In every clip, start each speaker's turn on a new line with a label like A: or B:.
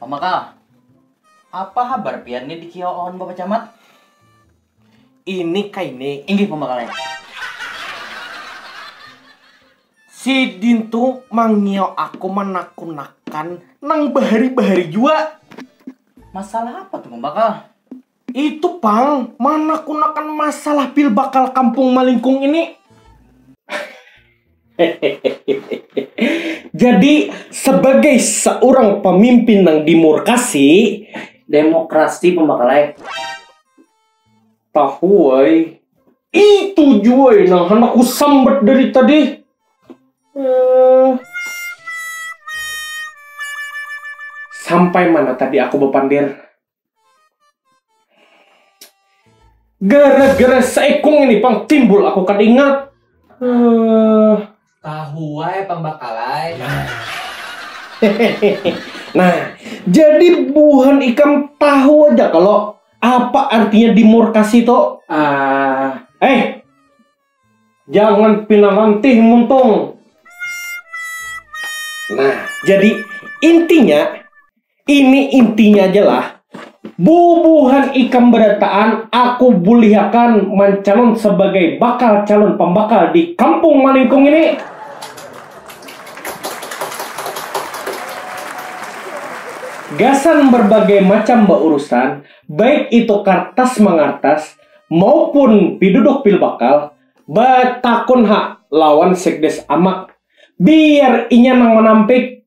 A: Pamakal, apa habar pian ni dikiau awan Bapak Camat?
B: Ini kai ni. Inggih pamakalnya. Sidin tu mangiau aku manakunakan nang bahari-bahari jua. Masalah
A: apa tu Pamakal? Itu
B: pang, manakunakan masalah pil bakal kampung malingkung ini. Jadi sebagai seorang pemimpin nang dimurkasi, demokrasi
A: pembakalai
B: tahu ai. Itu jua ai nang handak ku sambat dari tadi. Eh. Sampai mana tadi aku bapander? Gara-gara seikung ini pang timbul aku kada ingat. Uh...
A: Tahu wae pambakalai.
B: nah, jadi buhan ikam tahu aja kalau apa artinya dimorkasi itu? Uh, eh, jangan pina mantih muntung. Nah, jadi intinya Ini intinya aja lah. Bubuhan ikam berataan, aku bulihakan mancalon sebagai bakal calon pembakal di kampung Malingkung ini. Gasan berbagai macam baurusan, baik itu kartas mangartas maupun piduduk pilbakal, batakun ha lawan sekdes amak, biar inya nang manampik,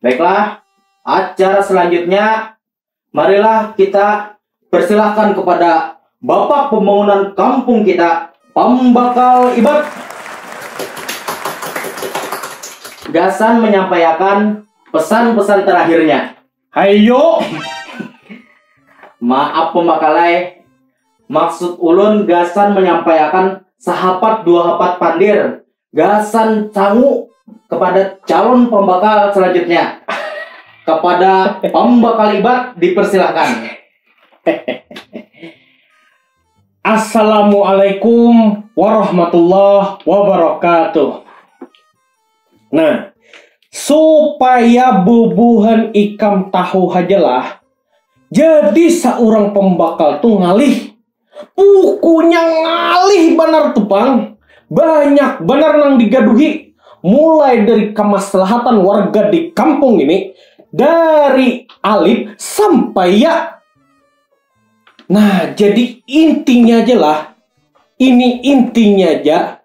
A: Baiklah, acara selanjutnya marilah kita persilahkan kepada Bapak Pembangunan Kampung kita, Pembakal Ibat. Gasan menyampaikan pesan-pesan terakhirnya. Hayo. Maaf pembakalai, maksud ulun gasan menyampaikan sahapat dua hapat pandir gasan sangu kepada calon pembakal selanjutnya. Kepada pembakal ibat dipersilahkan.
B: Assalamualaikum warahmatullahi wabarakatuh. Nah, supaya bubuhan ikam tahu hajalah, jadi seorang pembakal tuh ngalih Pukunya ngalih banar tu pang, banyak banar nang digaduhi, mulai dari kamaslahatan warga di kampung ini, dari alit sampai ya. Nah jadi intinya ja lah, ini intinya ja.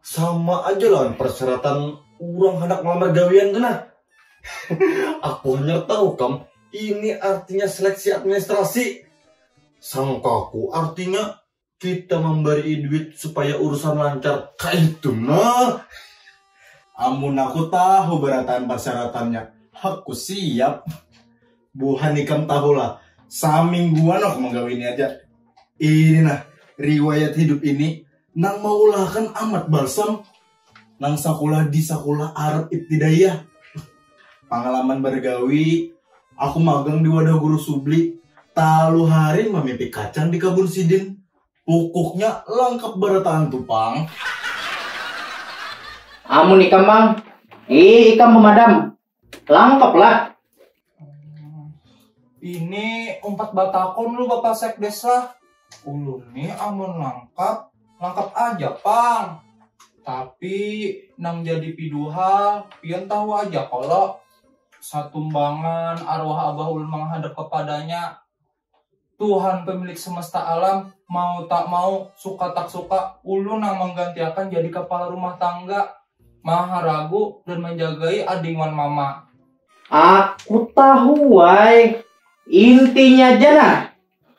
C: Sama aja lawan persyaratan orang hendak melamar gawian tu nah. Aku hanya tahu kam, ini artinya seleksi administrasi. Sangkaku artinya kita memberi duit supaya urusan lancar. Kaitu nah.
D: Amun aku tahu berataan persyaratannya, aku siap. Buhan ikam tahulah, samingguan aku menggawi ini aja. Ini nah, riwayat hidup ini nang maulahakan Ahmad Balsam nang sakulah di sakulah Arab Ibtidaiyah. Pangalaman bergawi, aku magang di wadah guru subli, talu hari mamipik kacang di kabun sidin. Pukuknya langkap barataan tu pang.
A: Amun ikam mang, ih ikam memadam, Langkap lah.
E: Ini umpat batakon lu Bapak Sekdes lah. Ulun nih amun langkap, langkap aja pang. Tapi nang jadi piduhal, pian tahu aja kalau satumbangan arwah abah ulun menghadap kepadanya. Tuhan pemilik semesta alam, mau tak mau, suka tak suka, ulun nang menggantiakan jadi kepala rumah tangga, maha ragu dan menjagai ading wan mama. Aku
A: tahu ai, intinya ja nah.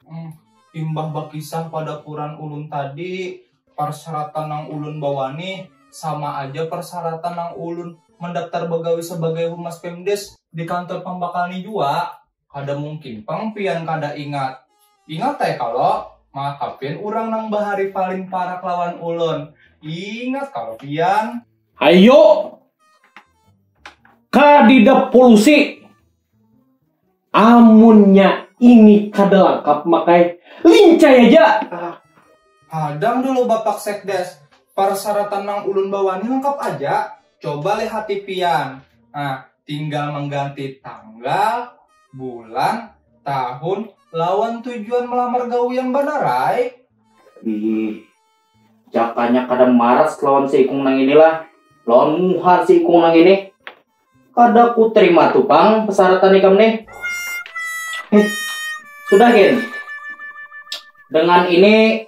A: Hmm,
E: imbah bakisah pada kuran ulun tadi, persyaratan nang ulun bawani sama aja persyaratan nang ulun mendaftar begawi sebagai humas pemdes di kantor pambakal ni jua. Kada mungkin pang pian kada ingat. Ingat ai kalo, maka pian urang nang bahari paling parak lawan ulun. Ingat kalo pian. Ayo,
B: kadida polusi. Amunnya ini kada langkap makai lincai aja.
E: Hadang dulu Bapak Sekdes, parsaratan nang ulun bawa ni langkap aja. Coba lihati pian. Nah, Tinggal mangganti tanggal, bulan, tahun, lawan tujuan melamar gawi yang banar ai. Ih,
A: jakanya kada maras lawan si ikung nang ini lah, lawan muha si ikung nang ini. Kada ku terima tu pang pesaratan ikam nih. Heh, sudah gin. Dengan ini